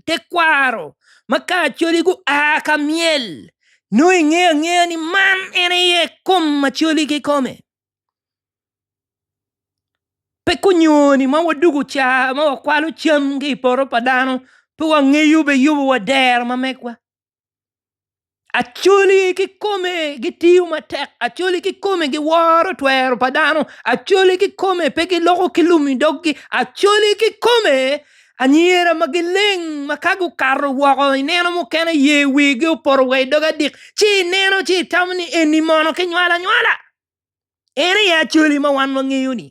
tekwaro ma kacoli gua ka myel nongo ingeyo angeya ni man en aye kom ma coli kikome pe kunyoni ma wadwogo ca ma wakwalo cam ki i poto pa dano pe wangeyo be yubo wadero ma megwa. Acholi kikome gitiyo matek, acholi kikome giworo twero pa dano, acholi kikome pe giloko ki lum i dog gi, acholi kikome anyira ma gileng ma ka gukato woko ineno mukene ye wigi opoto wa i dog adik ci ineno ci itamo ni eni mono kinywalo anywala? En aye acholi ma wan wangeyo ni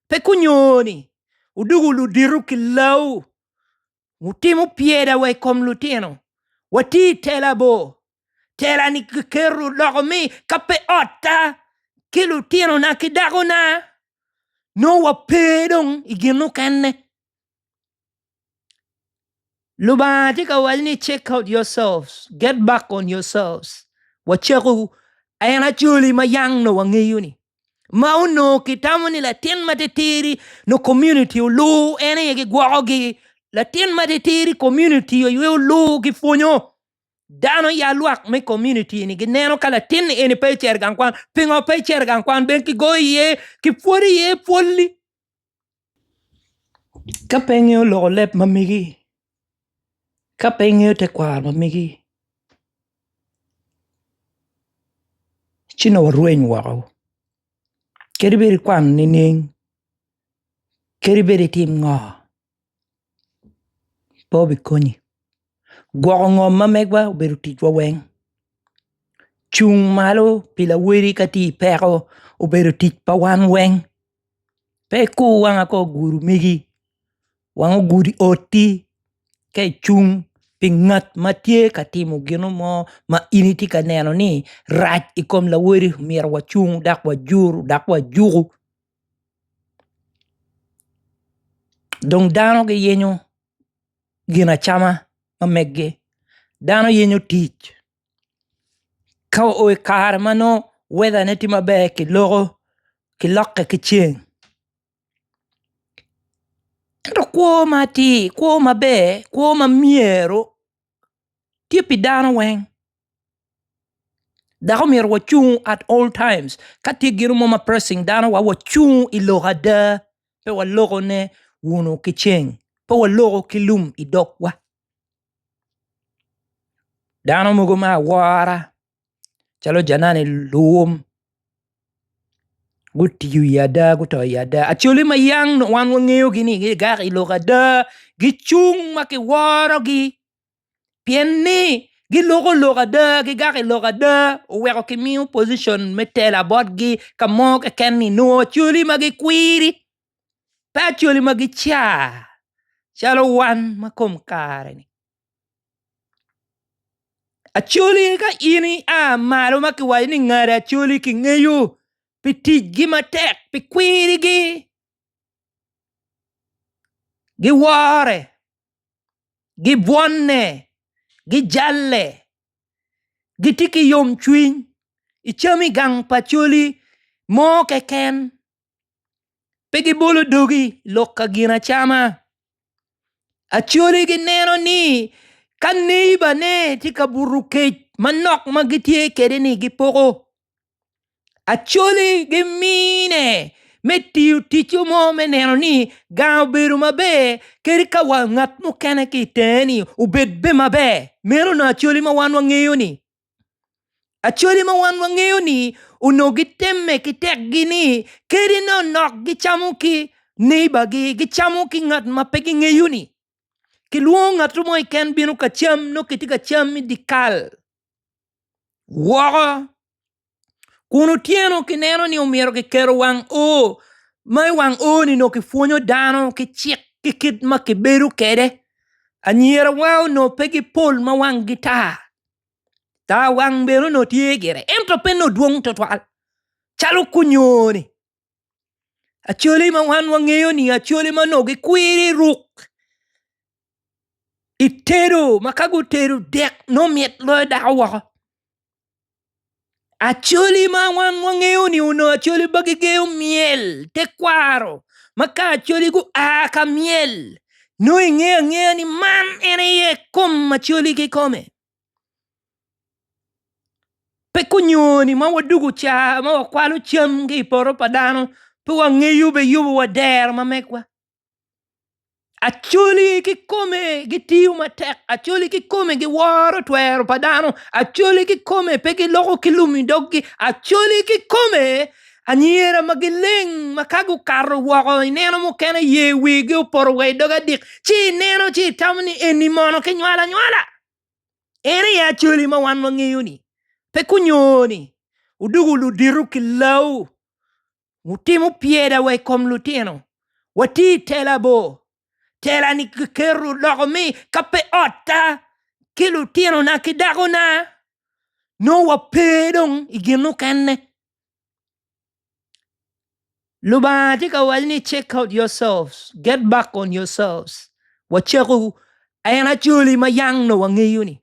pe kunyo ni odugo ludito kilawu. wutimo pyeda wa i kom lutino, wati i tela bor. Tela-ni kiketo loko ni ka pe otta ki lutinona ki dakona nongo wape dong i gin mukene. Lubanga tye ka waco ni check out yourselves, get back on yourselves, wacako, en acwali ma yang nongo wangeyo-ni. ma onongo kitamo ni latin ma titidi nyo komuniti olur en aye gigwokogi, latin ma titidi komuniti aye olur gipwonyo dano ya lwak me komuniti-ni gineno ka latinni eni pe ecito i gang kwan pingo pe ecito i gang kwan ben kigoyo iye kipwodi iye pwol-li. Ka pe ingeyo loko leb ma megi, ka pe ingeyo tekwaro ma megi ci dong warweny woko kadi bed ikwango nining, kadi bed itim ngo. pe obikonyi. Gwoko ngom ma megwa obedo ticwa weng, cung malo pi lawoti ka tye i peko obedo tic pa wan weng, pe ikur wanga ka oguru megi wanga ogudi oti ka icung pi ngat ma tye ka timo gin mo ma in itye ka neno ni rac i kom lawoti myero wacung dok wajur dok wajuku. Dong dano giyenyo ginacama ma meggi, dano yenyo tic ka oo i kare ma nongo wedane tye maber kiloko kilokke ki ceng ento kwo ma atir kwo maber kwo ma myero tye pi dano weng. Dako myero wa cung at all times ka tye gino mo ma pressing dano wa wa cung i lok ada pe wa loko ne wunu ki ceng pe wa loko ki lum i dog wa dano mogo me awora calo janani lum gutiyo i ada guto i ada actually ma yang wan wa ngeyo gi ni gi gak i lok ada gi cung ma ki woro gi pien ni giloko lok ada, gigak i lok ada oweko kimiyo pocition me tela botgi ka mo keken ni nongo Acholi ma gikwiri pe Acholi ma gica calo wan ma kom kare-ni Acholi ka in ia malo ma kiwaco ni ngada Acholi kingeyo pi ticgi matek pi kwirigi. Giwore, gibwonne, gijalle, gitye ki yomcwiny i cam i gang pa coli mo keken, pe gibolo dogi lok ka ginacama. Acoli gineno ni ka neibane tye ka buto kec manok ma gitye kwede-ni gipoko. Acholi gimine me tiyo ticce mo me neno ni gang obedo maber kadi ka wa ngat mukene ki itenge-ni obed bene maber meno onongo acholi ma wan wangeyo-ni, acholi ma wan wangeyo-ni onongo gitemme ki tekgi ni kadi nongo nok gicamo ki neighbor-gi gicamo ki ngat ma pe gingeyo-ni kilwongo ngatu mo keken bino ka cam nongo kitye ka cam idye kal. woko kun otyeno kineno ni omyero kiketo wang o ma i wang o ni nongo kipwonyo dano ki cik ki kit ma kibedo kwede anyirawa onongo pe gipol ma wangi tar, tar wang bene onongo tye gire ento pe nongo dwong tutwal calo kunyoni. Acwale ma wan wangeyo ni acwale ma onongo gikwiri i ruk i tedo ma ka gutedo dek nongo mit loyo dako woko acwali ma wan wangeyo ni onongo acwali ma gigeyo myel tekwaro ma ka acwali gua ka myel nongo ingeyo angeya ni man en aye kom acwali kikome. Pe kunyoni ma wadwogo ca ma wakwalo cam ki i poto pa dano pe wangeyo be yubo wa dero ma megwa Acholi kikome gitiyo matek Acholi kikome giworo twero pa dano Acholi kikome pe giloko ki lum i doggi Acholi kikome anyira ma gileng ma ka gukato woko i neno mukene yer wigi opoto wa i dog adik ci i neno ci itamo ni eni mono kinywalo anywala. En aye Acwali ma wan wangeyo-ni. Pe kunyo ni wudoko ludito ki lawu, wutimo pyeda wa i kom lutino, wati i tela bo. Tela-ni kiketo odoko ni ka pe otta ki lutinona ki dakona, nongo wape dong i gin mukene. Lubanga tye ka waco ni check out yourselves, get back on yourselves wacekwu en Acholi ma yang nongo wangeyo ni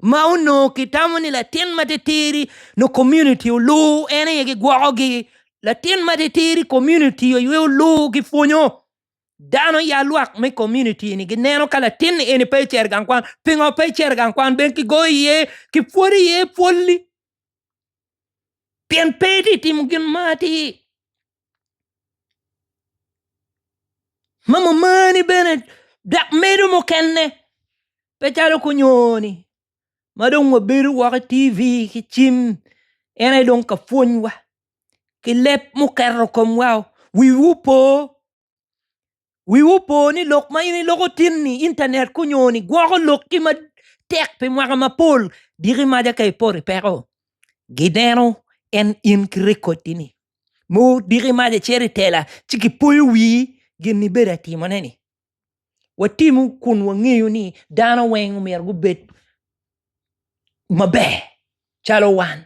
ma onongo kitamo ni latin matitidi nongo community olur en aye gigwokogi latin matitidi community aye olur gipwonyo dano ya lwak me community ni gineno ka latin eni pe cito i gang kwan pingo pe icito i gang kwan ben kigoyo iye kipwodi iye pwol-li. pien pe itye ka timo gin ma atir ma ma mari bene dok medo mukene pe calo kunyoni ma dong wabedo woko i TV ki cim en aye dong ka pwonywa ki leb muketo i komwa wiwa opo. Wiwu opo ni lok ma in iloko tin-ni, intanet kunyo-ni, gwoko lokki matek pi mwaka mapol. Diki maca ka ipoto i peko, gideno en in ki rekottini. Mour diki maca icito i tela, ci gipoyo wii gin ibedo atimone-ni. Watimu kun wangeyo ni dano weng omyero gubed maber calo wan.